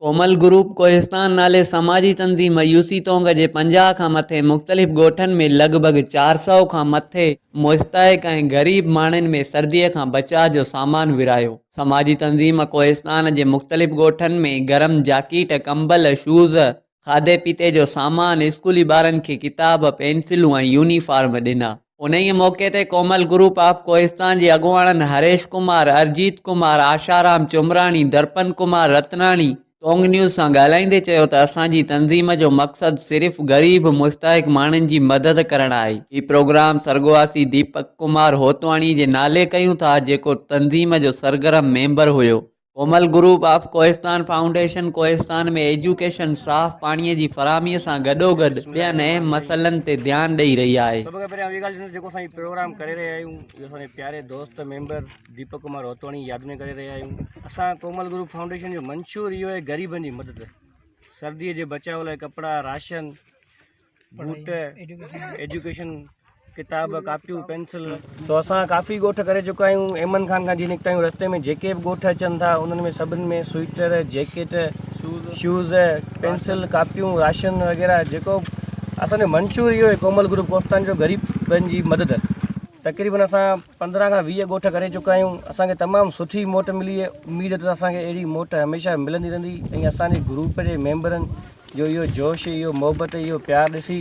ڪومل group Kohistan نالي سماجي تنظيم يوسي تونگ جي پنجاهه کان مٿي مختلف ڳوٺن ۾ لڳ ڀڳ چار سؤ کان مٿي مستحق ۽ غريب ماڻهن ۾ سرديء کان بچاء جو سامان ورهايو. سماجي تنظيم ڪوهستان جي مختلف ڳوٺن ۾ گرم جاڪيٽ، ڪمبل، شوز، کاڌي پيتي جو سامان، اسڪولي ٻارن کي ڪتاب، پينسلون ۽ يونيفارم ڏنا. انهيء موقعي تي ڪومل گروپ آف ڪوهستان جي اڳواڻن هريش ڪمار، ارجيت ڪمار، آشارام چومراڻي، درپن ڪمار رتناڻي، ٽونگ نيوز سان ڳالهائيندي چيو ته اسان جي تنظيم جو مقصد صرف غريب مستحق ماڻهن جي مدد ڪرڻ آهي. هي پروگرام سرڳواسي ديپڪ ڪمار هوتواڻي جي نالي ڪيون ٿا، جيڪو تنظيم جو سرگرم ميمبر هيو. Komal group of Kohistan foundation Kohistan ۾ education, صاف پاڻي جي فراهمي سان گڏوگڏ ٻين اهم مسئلن تي ڌيان ڏئي رهي آهي. سڀ کان پهريان اهي ڳالهه جيڪو اسان هي پروگرام ڪري رهيا آهيون اهو اسان جي پياري دوست ميمبر ديپڪ ڪمار روتواڻي ياد ۾ ڪري رهيا آهيون اسان ڪومل گروپ فائونڊيشن جو منشور اهو آهي غريبن جي مدد سردي جي بچاء لاء ڪپڙا راشن بوٽ ايجوڪيشن ڪتاب ڪاپيون پينسل سو اسان ڪافي ڳوٺ ڪري چڪا آهيون ايمن خان کان جي نڪتا آهيون رستي ۾ جيڪي به ڳوٺ اچن ٿا انهن ۾ سڀني ۾ سوئيٽر جيڪيٽ شوز پينسل ڪاپيون راشن وغيره جيڪو اسان جو منشور اهو هي ڪومل گروپ ڪوستان جو غريبن جي مدد تقريبن اسان پندرهن کان ويهه ڳوٺ ڪري چڪا آهيون اسانکي تمام سٺي موٽ ملي اميد ته اسانکي اهڙي موٽ هميشه ملندي رهندي ۽ اسانجي گروپ جي ميمبرن جو اهو جوش اهو محبت اهو پيار ڏسي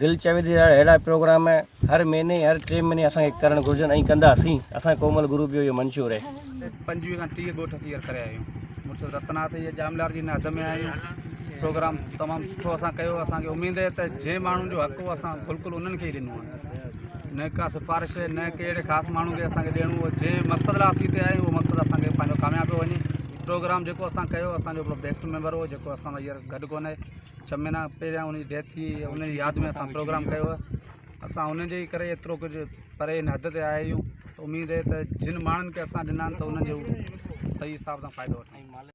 دل چوي ٿي اهڙا پروگرام هر مهيني هر ٽي مهيني اسان کي ڪرڻ گهرجن ۽ ڪنداسين اسان ڪومل گروپ جو اهو منشور آهي پنجويهه کان ٽيهه ڳوٺ سيئر ڪري آيون مرشد رتناٿ جي ڄاملار جي نهد ۾ آيون پروگرام تمام سٺو اسان ڪيو اسان کي اميد آهي ته جنهن ماڻهن جو حق هو اسان بلڪل انهن کي ئي ڏنو آهي نه ڪا سفارش نه ڪهڙي خاص ماڻهو کي اسان کي ڏيڻو هو جنهن مقصد لاء اسين هتي آيون اهو مقصد اسان کي پنهنجو ڪامياب ٿو وڃي پروگرام جيڪو اسان ڪيو اسان جو هڪڙو بيسٽ ميمبر هو جيڪو اسان سان هينئر گڏ ڪونهي ڇهه مهينا پهريان ان جي ڊيٿ ٿي هئي ان جي ياد ۾ اسان پروگرام ڪيو هو اسان ان جي ڪري ايترو ڪجهه پري هن حد تي آيا آهيون ته اميد هي ته جن ماڻهن کي اسان ڏنا آهن ته انهن جو صحيح حساب سان فائدو وٺون